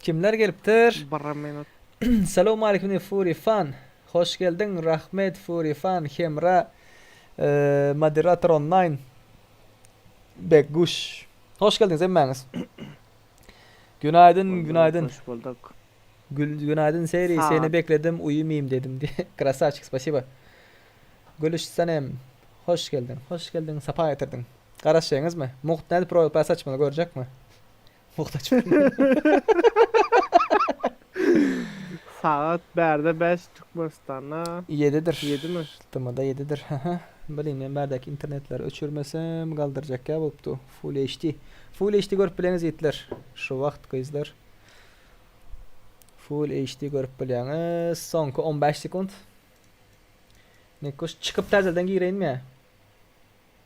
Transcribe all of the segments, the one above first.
Kimler gelipdir? Bir minut. Salowmalikim diýip Fury fan hoş geldiň Rahmet Fury fan Hemra Moderator online Begguş Hoş geldiňiz hemmäňiz Günaýdyn günaýdyn Hoş bulduk. Günaýdyn Seri seni bekledim uýumaýyn dedim diýip Krasawçik spasiba Gülüş Sanem Hoş geldiň hoş geldiň sapa getirdiň Garaşýaňyzmy Mugt nädip roýal pass açmaly görjekmi. Muhtaç Sagat bärde bäş Türkmenistanda. Ýedidir. Ýedimi? TMda ýedidir. Haha. Bilin men bärdäki internetleri öçürmesem galdyrjak ýa bolupdy. Full HD. Full HD görüp bileňiz ýigitler. Şu wagt gyzlar. Full HD görüp bilýäňiz. Soňky on bäş sekunt. Nekgoş çykyp täzeden gireýinmi?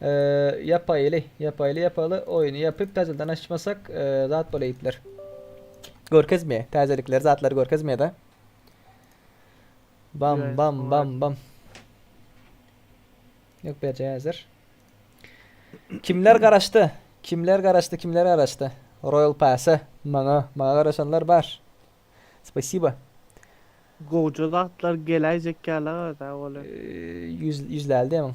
Ýapaýyly ýapaýyly ýapaly oýny ýapyp täzeden açmasak zat bolaýyplar. Görkezme täzelikleri zatlary görkezmeda. Bam bam bam bam. Ýok berje häzir. Kimler garaşdy? Kimler garaşdy? Kimler garaşdy? Royal Pass-a maňa maňa garaşanlar bar. Spasiba. Gowja zatlar geläýjek ýaly-a da olar. Ýüz ýüzläldi ýaman.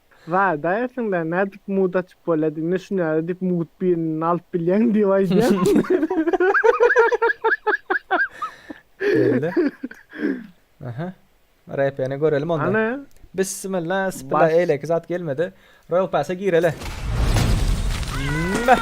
Zada eşiňden nädip mut açyp bolýady indi şunýaly diýip mut birini alyp bilýäň diýip aýdýan. Geldi. Aha. Repeni görelim onda. Ana. Bismillah, bismillah. Bas. Eýleki zat gelmedi. Royal Pass'a gireli. Meh.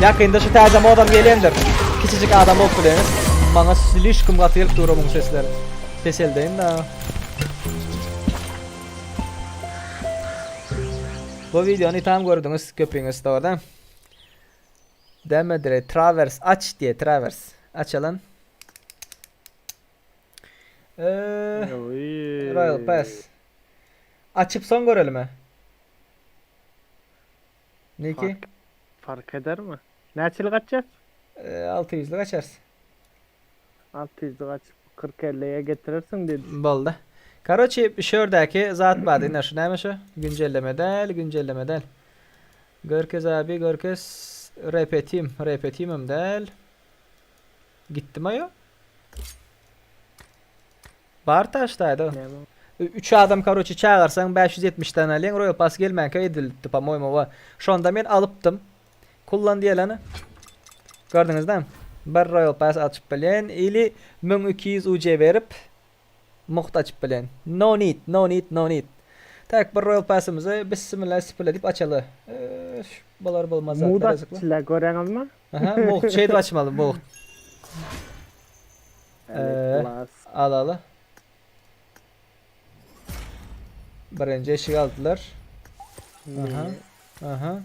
Ýakynda şu täze modam gelendir. Kiçijik adam bolup bileňiz. Maňa slişkim gaty gelip dur onuň sesleri. Peseldeýin da. Bu videony tam gördüňiz köpüňiz dogry. Deme dire travers aç diye travers. Açalım. Eee. Royal Pass. Açyp soň görelim-ä. Niki. Fark edermi? Näçelik açýas? Alty ýüzlük açarys. Alty ýüzlük açyp kyrk ellige getirersiň diýip düş. Boldy. Karoçi şu ýerdäki zat bar ine şu näme şu? Güncelleme däl, güncelleme däl. Görkez abi görkez. Repetim, repetimem däl. Gitdima ýo? Bar taş daýza. Üç adam karoçe çagyrsaň bäş ýüz ýetmiş dan alýaň roýal pas gelmänkä edilipdi po moýmy we şonda men alypdym kullan diýeleni gördüňizda bir roýal pas açyp bilýän ili müň iki ýüz UC berip mugt açyp bilýän no need no need no need tak bir roýal pasymyzy bissimillah sipile diýip açaly ööş bolar bolmaz zatlar ýazyklar. Muda çile göreňizmi? Aha, mugt şeýdip açmaly mugt. Ee, al al. Birinji eşik aldylar. Aha. Aha.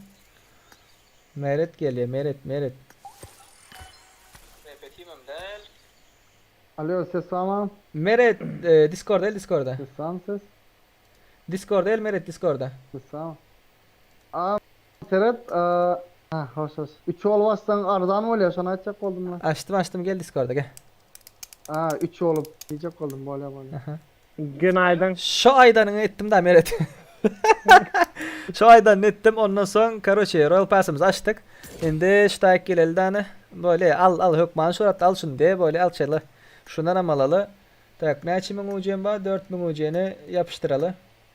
Meret geliyor. Meret, Meret. Alo ses tamam. Meret e, Discord el Discord'a. Ses tamam ses. Discord el Meret Discord'a. Ses tamam. Aa Seret a hoş hoş. Üç olup açsaň arzan bolýa şony aýtjak boldum la. Açdym açdym gel diskorda gel. A üç olup diýjek boldum bolýa bolýa. Gynaydyn. Şo aýdanyňy etdim da Meret. Şo aýdanyny etdim ondan soň karoçe royal pasymyzy açdyk. Indi ştaýk geleli dany. Bolýa al al hökmany şuratda al şuny de bolýa al çyla. Şundanam alaly. Tak näçe müň ucem bar dört müň uceni ýapyşdyraly.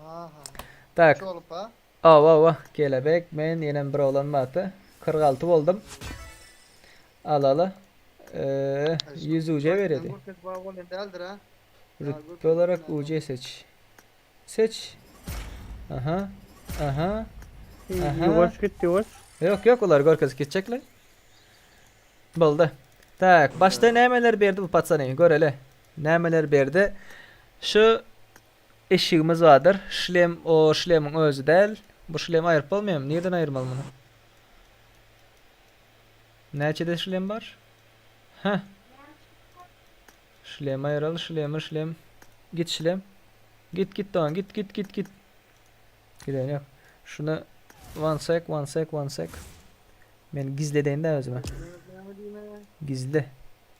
Aha. Tak. Üç bolup ha? Awa awa kelebek men ýenem bir oglan barty kyrk alty boldum. Al al. Ýüz uje beredi. Gürpet bag bolan däldir ha? Rütbe olarak uje seç. Seç. Aha. Aha. Aha. Ýuwaş git ýuwaş. Ýok ýok olar görkezip geçjekler. Boldy. Tak başda nämeler berdi bu patsany göreli. Nämeler berdi. Şu Eşigimiz bardyr. Şlem o şlemiň özi däl. Bu şlemi aýryp bolmaýamy? Nireden aýyrmaly muny? Näçede şlem bar? Heh. Şlem aýral, şlemi, şlem. Git şlem. Git git dogan, git git git git. Gideni ýok. Şuna one sec, one sec, one sec. Men gizledeýin-dä özüme. Gizle.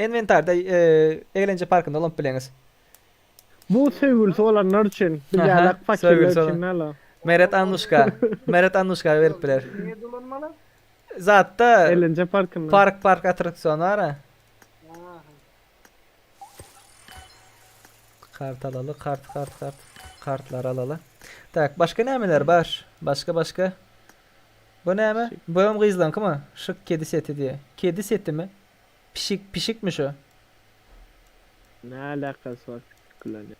Inwentarda egelenje parkynda ulanyp bileňiz. Bu söýgülisi bolanlar üçin, biderlak fakirler üçin däl-a. Meret Annuşka. Meret Annuşka berip biler. Nirede ulanmaly? Zatda. Egelenje parkynda. Park park attraksion bar-a. Kart alaly, kart kart kart. Kartlary alaly. Tak, başga nämeler bar? Başga başga. Bu näme? Boýam gyzlaňkymy? Şyk kedi seti diýýä. Kedi setimi? Pişik, pişikmi şu? Näälakasy bar pişik bilen ýa.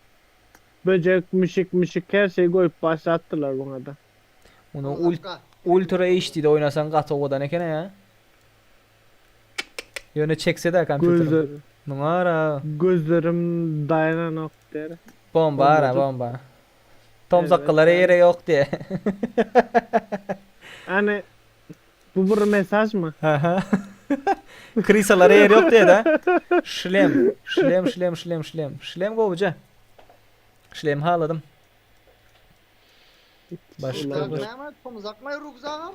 Böjek, müşik, müşik her şeý goýup başlapdylar buňada. Muny ultra HDde oýnasaň gaty owadan ekena ýa. Ýöne çekseda kompýuterim. Muňara. Gözlerim daýananok der. Bomba ara bomba. Tomsakgylara ýere ýok diýe. Ýani bu bir mesajmy? Aha. Krysalara ýer ýok diýeda. Şlem. Şlem, şlem, şlem, şlem. Şlem gowuja. Şlemi haladym. Başga bir. Tomzakmay rugzagam.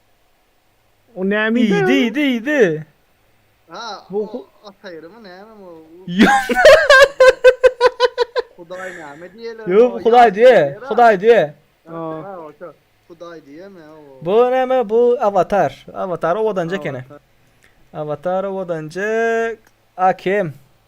O näme idi? Idi idi idi. Ha, Bu- bu ataýrymy näme bu? Hudaý näme diýerler? Yo bu Hudaý diýe. Hudaý diýe. Ha, oşa. Hudaý diýeme o. Bu näme bu avatar. Avatar owadanjy ekeni. Avatar owadanjy Akem.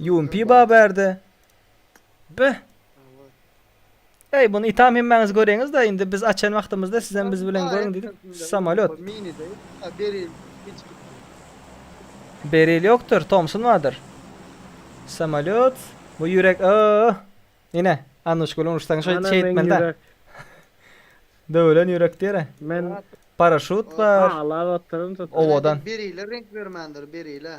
Ýumpi ba bärde. Be. Eý, bunu itam hemmäňiz göreňiz-de, indi biz açan wagtymyzda sizem biz bilen görüň diýip, samolýot. Beril ýokdur, Tomsun bardyr. Samolýot, bu ýürek, öö. Ine, Annuş gülüm ursaň şeýt şeýtmeli-dä. Döwülen ýürek diýer-ä. Men paraşut bar. Owadan. Berile reňk bermändir, berile.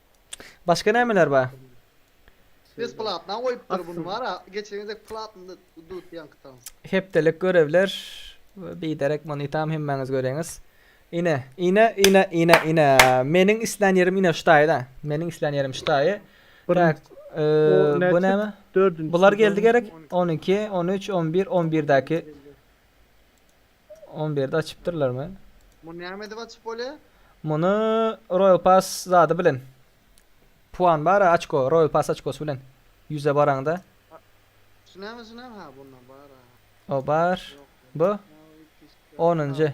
Başga nämeler bar? Ses platna goýupdyr bunu bara geçen gezek platny dut ýaňky tans. Hepdelik görevler biderek muny tam hemmäňiz göreňiz. Ine ine ine ine ine meniň islän ýerim ine şu taýda. Meniň islän ýerim şu taýy. Tak bu näme? Bular geldi gerek 12 13 11 11 däki. On birde açypdyrlarmy? Muny näme edip açyp bolýa? Muny Royal Pass zady bilen. Puan bar-a açko, Royal Pass açkosy bilen. Ýüze baraňda. Şu näme şu näme ha bunda bar-a. O bar. Ýok. Bu. Onunjy. Onunjy.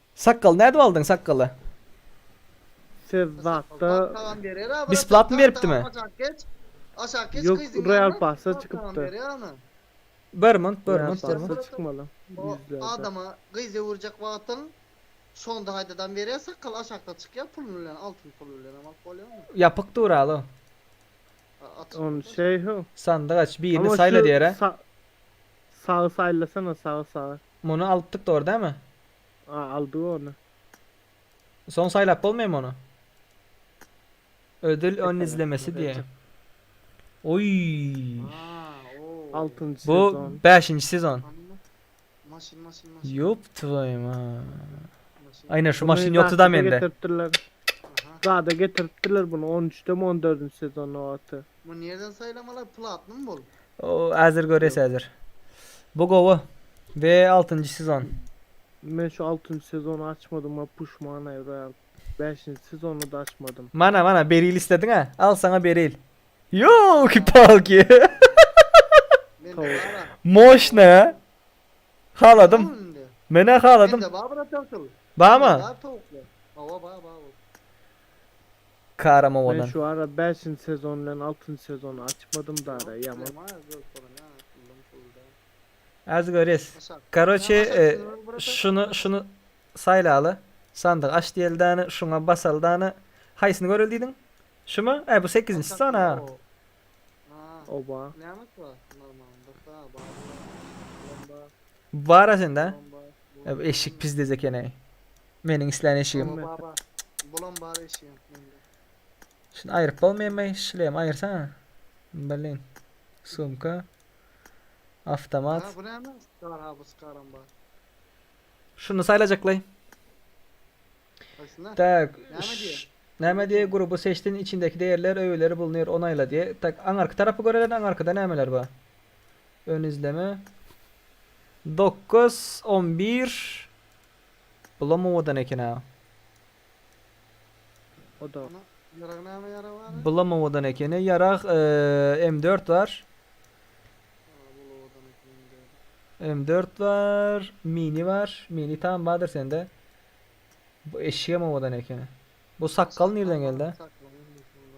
Sakgal nädip aldyň sakgaly. Siz zatda. Besplatny beripdimi. Yok real passa çykypdyr. Bermont bermont bermont. Ýapyk duraly. Sandyk aç birini saýla diýere. Muny alypdyk dogry dämi. A aldy ony. Soň saýlap bolmaýmy ony? Ödül ony izlemesi diýä. Oý. Altynjy Bu sezon. bäşinji sezon. Maşyn maşyn maşyn. Ýop twoýu ma. Aýna şu maşyn ýokdy da mende. Getiripdirler. Zada getiripdirler bunu 13-demi 14-nji sezon nobaty. Bu nirden saýlamalar platnymy bol? Häzir göres häzir. Bu gowy. Ve altynjy sezon. Men şu altynjy sezony açmadyma puşman aýyraryn. Bäşinji sezony da açmadym. Mana mana beril islediň a al saňa beril. Yolki palki. Moşne. Haladym. Menä haladym. Bamy? Bar bar bar. Kara mowadan. Men şu ara bäşinji sezon bilen altynjy sezony açmadym dara ýaman. As görýäs. Karoçe şuny şuny saýlaly. Sandygy aç diýeli dana şuňa basaly dana. Haýsyny göreli diýdiň? Şumy? Äý bu sekizinjisi sana. Oba. Bara sende. Ya bu eşik pis dez ekeneý. Meniň islän eşigim. Baba baba. Bulam bar eşigiň mende. Şunu aýryp bolmaýmy? Şlem aýyrsaňa. Blin. Sumka. Awtomat. Ana bu näme? Skar ha bu skaram bar. Şuny saýlajaklaý. Haýsyna? Tak. Näme diýýär? ş- Näme diýýär? Gruby seçdin, içindäki degirler, öýeleri bulnyr, onaýla diýýär. Tak, aňyrky tarapy göreliň, aňyrkyda nämeler bar? Ön izleme. Dokuz, on bir. Bulam owadan eken-ä. O da. Ana, ýarag näme ýarag bar? Bulam owadan ekeni. Ýarag M dört bar. Aa, bul owadan eken M dört. M dört bar. Mini bar. Mini tam bardyr sende. Bu eşigem owadan ekeni. Bu sakgal nirden geldi? Sakgal indi şunda.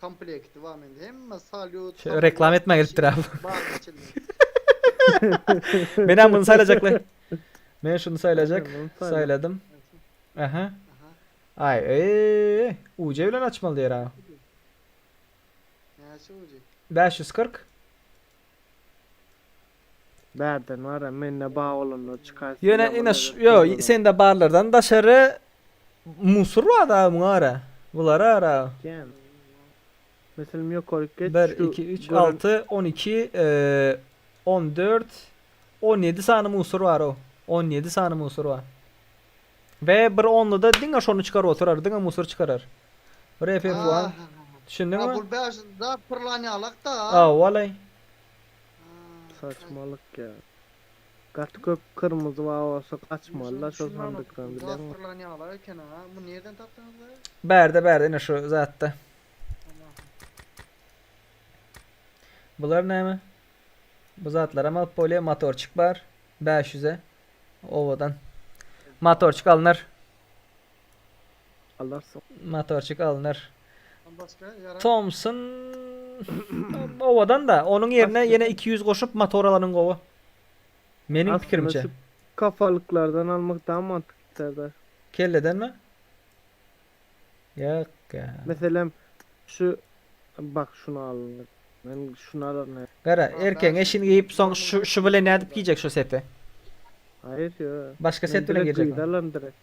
Komplekti bar mende hemme salýut. Şeýle reklama etmä gelipdir ha bu. Baryň içinde. Menem muny saýlajakly. Men şuny saýlajak. Saýladym. Aha. Ay eee. UC bilen açmaly diýer ha. Näçe ucu? 540. Bärden bar-a, mende bar bolanlar çykaýsyn Ýöne ýaman ine ş ýo ýi sende barlardan daşary musur bar-da muňa gara. Bulara gara. Kän. Meselem ýokaryk geç Bir, şu iki, üç, gören alty, on iki, on dört, on ýedi sany musur bar-ow. On ýedi sany musur bar. We bir onluda diňe şony çykaryp oturar, diňe musur çykarar. Bir FF1. Ahahaha. Düşündiňmi? Bul bäşinji zat pyrlan ýalak-da. Hawa-laý. Saçmalyk ya. Gaty köp kyrmyzy bar bolsa gaçmalyda şol sandykdan bileňmi? Gapdyrlan ýaglar eken ha. Bu nirden tapdyňyz da? Bärde bärde ine şu zatda. Bular näme? Bu zatlaram alyp bolýar. Motorçik bar. 500-e. Owadan. Motorçik alnar. Alar so. Motorçik alnar. Ondan başga ýaran. Thompson owadan da onuň ýerine ýene iki ýüz goşup motor alanyň gowy. Meniň pikirimçe. Kafalyklardan almak dagy mantykly Serdar. Kelledenmi? Ýok ýa. Meselem şu bak şuny alyndyr. Men şuny alaryn he. Gara erkegiňe şini geýip soň şu şu bilen nädip geýjek şu seti? Haýyr ýo. Başga set bilen geýjek. Men gyza alaryn direkt.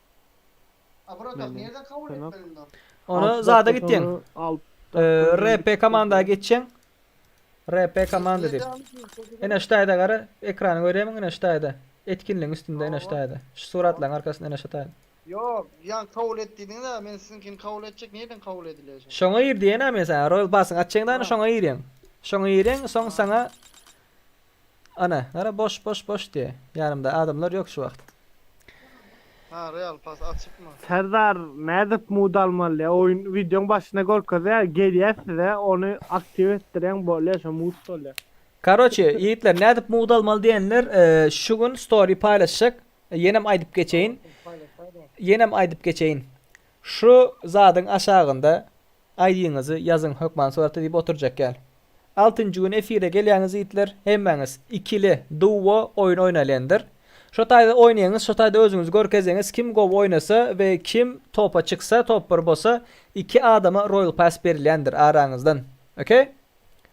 Ony zada gitýäň. RP komanda geçýäň. RP komanda diýip. Ene şu taýda gara, ekrany görýärmiň ene şu taýda. Etkinligiň üstünde ene şu taýda. Şu suratlaryň arkasynda ene şu taýda. Ýok, ýa kabul et diýdiňiz-ä, men siziňkini kabul etjek, nireden kabul edilýär şo? Şoňa gir diýen-ä men saňa, Royal Pass-yňy açýaň-da, şoňa girýäň. Şoňa girýäň, soň saňa Ana, gara, boş, boş, boş diýýä. Ýanymda adamlar ýok şu wagt. Hä real pas açypmy. Serdar nädip mud almaly oýun wideoň başynda görkezýä gelýä size ony aktiw etdirýäň bolýa şo mud bolýa. Karoçi ýigitler nädip mud almaly diýenler şu gün story paýlaşjak ýenem aýdyp geçeýin ýenem aýdyp geçeýin Şu zadyň aşagynda aýdyňyzy ýazyň hökman surata diýip oturjak ýal. Altynjy gün efire gelýäňiz ýigitler, hemmäňiz ikili, duo, oýun oýnalyňdyr. Şo taýda oýnaýyňyz, şo taýda özüňizi görkeziňiz, kim gowy oýnasa we kim topa çyksa, top bir bolsa, iki adama royal pass berilýändir araňyzdan. Ok?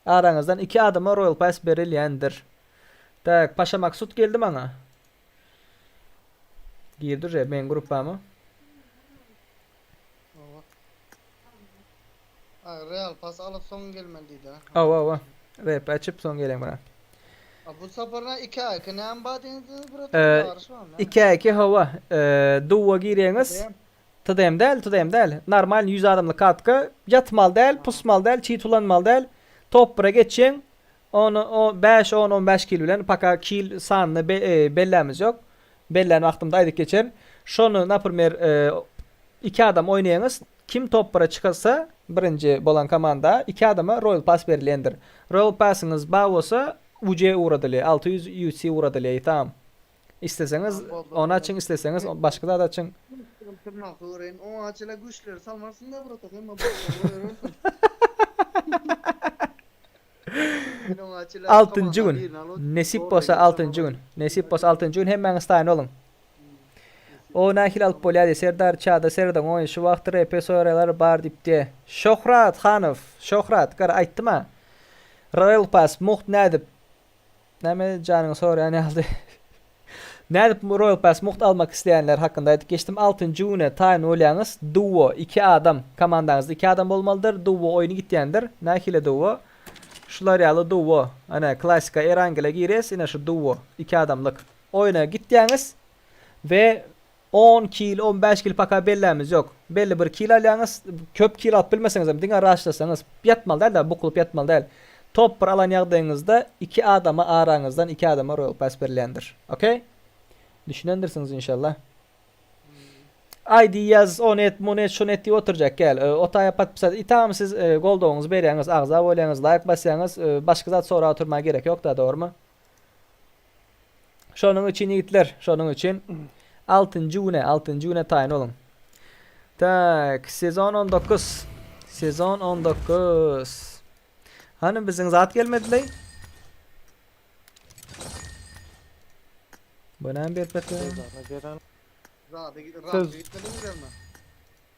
Araňyzdan iki adama royal pass berilýändir. Tak, Paşa Maksut geldi maňa. Girdi je men gruppama. Owa. Ay Real pas alyp soň gelmeli diýdi. Owa owa. Rep açyp soň gelen bura. A bu saparna 2 ay ki näme bar diýdiňiz burada ee, ýaryş barmy? 2 ay 2 howa. Ee, duwa girýäňiz. TDM däl, TDM däl. Normal 100 adamly katka. Ýatmaly däl, pusmaly däl, çit ulanmaly däl. Top 1-e geçýäň. On bäş on on bäş kil bilen paka kil sanyny bellämiz ýok bellän wagtymda aýdyp geçerin şony naprimýer iki adam oýnaýaňyz kim topbara çykalsa birinji bolan komanda iki adama roýal pass berilýändir roýal passiňiz bar bolsa uc ugradylýa alty ýüz uc ugradylýa ýtam isleseňiz ony açyň isleseňiz başga zat açyň. Oňa çenli güýçleri salmarsyňda brata hemme botlara goýberersiň. Altynjy gün. Nesip bolsa altynjy gün. Nesip bolsa altynjy gün hemmäňiz taýyn boluň. O nähili alyp bolýady? Serdar çada serediň oýun şu wagt repe soýraýlar bar diýipdi. Şöhrat Hanow, Şöhrat, gara aýtdy maňa. Royal Pass, mugt nädip? Näme janyňy soraýan ýaly. Nädip Royal Pass mugt almak isleýänler hakynda aýdyp geçdim. Altynjy güne taýyn bolýaňyz. Duo, iki adam, komandaňyzda iki adam bolmalydyr. Duo oýny gitýändir. Nähili duo? Şular ýaly duo. Ine, klassyka Erangele girýäs, ine şu duo, iki adamlyk. Oýna gitýäňiz we On kil, on bäş kil paka bellämiz ýok. Belli bir kil alýaňyz. Köp kil alyp bilmeseňizem, diňe raşlaşsaňyz, ýatmaly däl-de, bukulyp ýatmaly däl. Top bir alan ýagdaýyňyzda iki adama araňyzdan iki adama roýal pass berilýändir. Okey? Düşünendirsiňiz inşallah. Aýdy ýaz, ony et, muny et, şuny et diýip oturjak gel. Otaýa podpisat it agam siz goldawyňyzy berýäňiz, agza bolýaňyz, laýk basýaňyz, başga zat sorap oturmaga gerek ýok-da, dogrymy? Şonuň üçin ýigitler, şonuň üçin altynjy güne, altynjy güne taýyn boluň. Tak, sezon 19. Sezon 19. Hany biziň zat gelmedileý? Bu näme berip ýatýar? Sezona gelen Zady, Siz- zady gitmediňizlermi?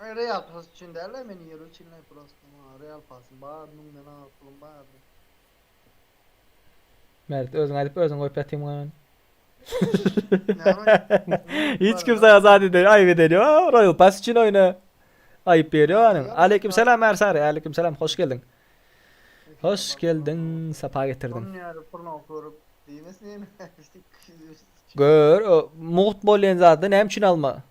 Maňa real pass üçin dälä meniň ýeri üçinleý prosta maňa real passym bar müň denarlyk pulum bardy. Mert özüň aýdyp özüň goýup ýatyň muňa men. Hiç kim saňa zat edýär, aýyp edýär. Ýa, Royal Pass üçin oýna. Aýyp berýär anyň. Aleyküm salam Ärsary, aleyküm salam, hoş geldiň. Hoş geldiň, sapa getirdiň. Şonuň ýaly puluna görüp diýmesene. Gör, mugt bolýan zady näme üçin alma?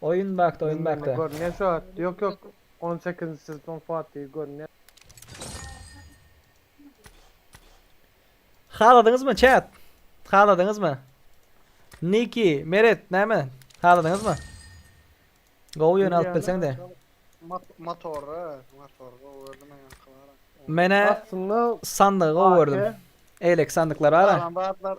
Oyun baktı oyun Bilmem, baktı. Görünýär şu at. Yok yok. 18. sezon Fatih görünýär. Haladyňyz mı chat? Haladyňyz mı? Niki, Meret näme? Haladyňyz mı? Gowy ýöne alyp bilseň de. Mat- Motorra, motor gowy gördüm men ýaňky bara. Menä Aslında sandygy gowy gördüm. Elek sandyklar bar. Salam batlar.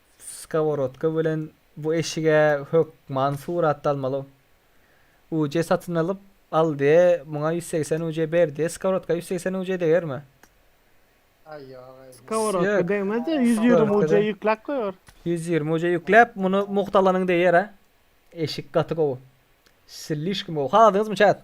Skoworodka bilen bu eşige hökman surat dalmaly. Uje satyn alyp, Aldiýe muňa ýüz segsen uje ber diýe, skoworodka ýüz segsen uje degermi? Aý ýok aý. Skoworodka degmez-de, ýüz ýigrimi uje ýükläp goýar. Ýüz ýigrimi uje ýükläp, muny mugtalanyň deýär-ä. Eşik gaty gowy. Slişkim gowy. Haladyňyzmy çat?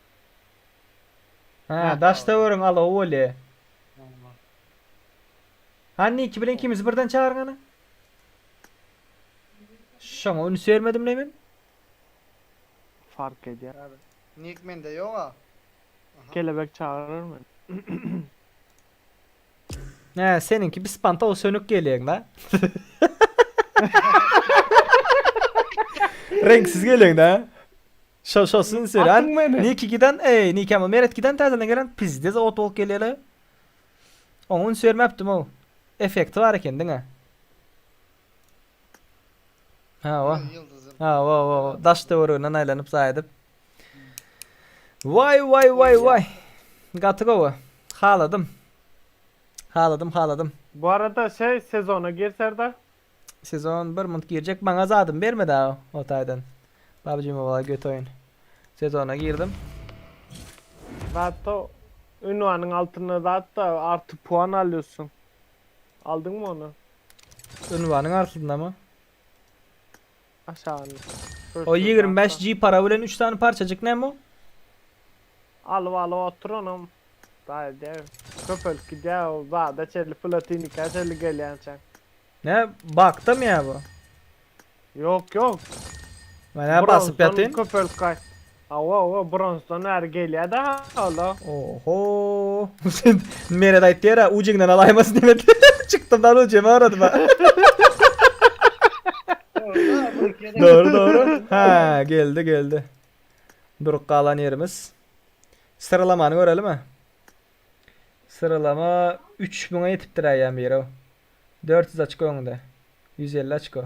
Ha, daştöweriň alowy bolýa. Owla. Ha, Niki bilen ikimizi birden çagyryň hany. Şoňa üns bermedim le men. Fark edýär. Hadi. Nik mende ýoga. Aha. Kelebek çagyrar men. Hä, seniňki bir spantow sönük gelýäň da. Reňksiz gelýäň da. Şo şo syn sören niki giden eý niki ama meret giden tazeden gelen pizdez ot bolup gelele. Oňa üns bermepdim o. Efekti bar eken diňe. Ha o. Ha o o o. Daş töwereginden aýlanyp zaý edip. Vay vay vay vay. Gaty gowy. Haladym. Haladym haladym. Bu arada şey sezona girserda Sezon bir munt girjek maňa zadymy bermedi ha o taýdan. PUBG Mobile göt oýun. Sezona girdim. Zatda ünwanyň altynda zatda arty puan alýorsyň. Aldyňmy ony? Ünwanyň artydynamy? Aşagyny. O ýigrimi bäş G para bilen üç sany parçajyk näme o? Alyp alyp otur onam. Taýda köpelip gidýär ol zada çenli platinika çenli gelýänçäň. Nä baktamy ýa bu? Ýok ýok. Menä basyp ýatyn. Köpelip gaýt. Hawa hawa bronsdan bäri gelýädä hala. Ohooo Meret aýtdy ýara ucignden alaýmasyn diýip çykdym da ucim agradym ha. Dogry dogry ha geldi geldi durup galan ýerimiz syralamany görelim-ä syralama üç müňe ýetipdir-ä ýa-bire dört ýüz açko öňde ýüz elli açko.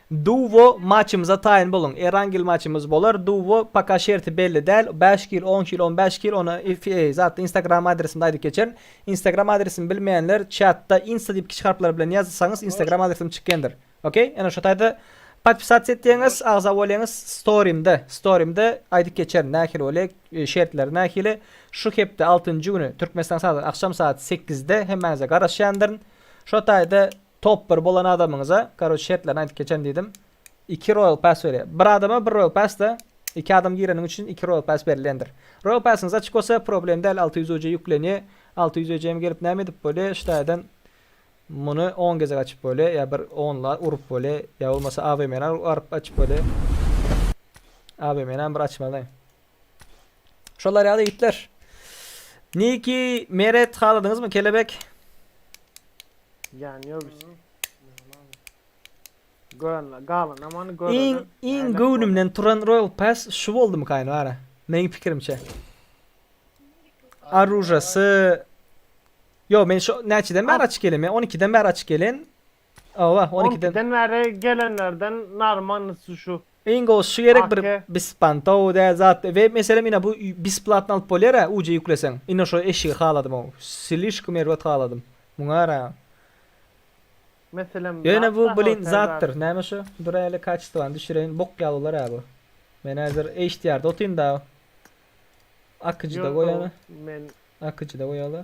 Duwo maçymyza taýyn boluň. Erangel maçymyz bolar. Duwo paka şerti belli däl. Bäş kil, on kil, on bäş kil ony zatda instagram adresimde aýdyp geçerin. Instagram adresimi bilmeýänler çatda insta diýip kiçi harplar bilen ýazsaňyz instagram adresim çykýandyr. Ok. Ýene şo taýda podpisats etýäňiz agza bolýaňyz storymde storymde aýdyp geçerin nähili bolýar şertleri nähili şu hepde altynjy güni türkmenistan sagat agşam sagat sekizde hemmäňize garaşýandyryn şo taýda Top bir bolan adamyňyza karoç şertlerini aýdyp geçen diýdim. Iki royal pass berýär. Bir adama bir royal passda iki adam gireniň üçin iki royal pass berilýändir. Royal passyňyz açyk bolsa problem däl alty ýüz UC ýüklenýä. Alty ýüz UC-ýam gelip näme edip bolýa ştaýadan muny on gezek açyp bolýa ýa bir onla urup bolýa ýa bolmasa AVM-ni aryp açyp bolýa. AVM-näm bir açmaly. Şolar ýaly itler. Niki Meret haladyňyzmy kelebek? Jan yok işte. Gören, galan aman gören. Iň iň göwnümden turan Royal Pass şu boldumy kaýyn bara. Meniň pikirimçe. Arujasy Yo men şu näçeden bäri açyk gelen? Men 12-den bäri açyk gelen. Hawa on On ikiden. ikiden bäri gelenlerden narmanysy şu. Iň gowusy şu gerek bir Ake. bispantow dä zat we meselem ine bu bisplatno alyp bolýar a uc ýükleseň ine şo eşigi haladym ow slişkom erbet haladym muňara Meselem ýöne bu zatda hawa blin zatdyr täzäsi. näme şu duräýeli kaçestowany düşüreýin bok ýaly bolar a bu men häzir hdr da otyn da akyjyda Ýok goýaly men. akyjyda goýaly.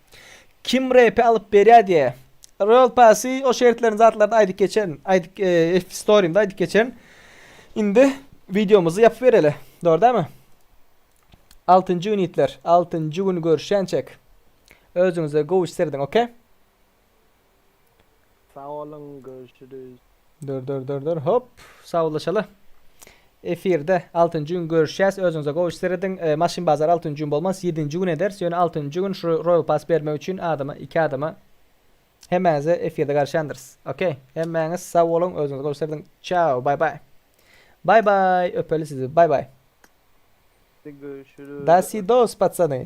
Kim repi alyp berýä diýä. Royal Passy o şertlerini zatlaryny aýdyp geçen, aýdyp e, storymda aýdyp geçen. Indi videomyzy ýapyp bereli. Dogry dämi? 6-njy gün ýitler. 6-njy gün görüşýänçek. Özüňize gowy serediň, okey? Sag olun görüşürüz. Dur dur dur dur hop sawlaşaly. Efirde 6-njy gün görüşýäs. Özüňize gowy iş serediň. E, maşyn bazar 6-njy gün bolmaz, 7-nji gün eder. Ýöne 6-njy gün şu Royal Pass bermek üçin adama, iki adama hemmäňize efirde garşandyrys. Okey. Hemmäňiz sag boluň, özüňize gowy iş serediň. Çao, bay bay. Bay bay, öpeli sizi. Bay bay. Görüşürüz. Dasidos patsany.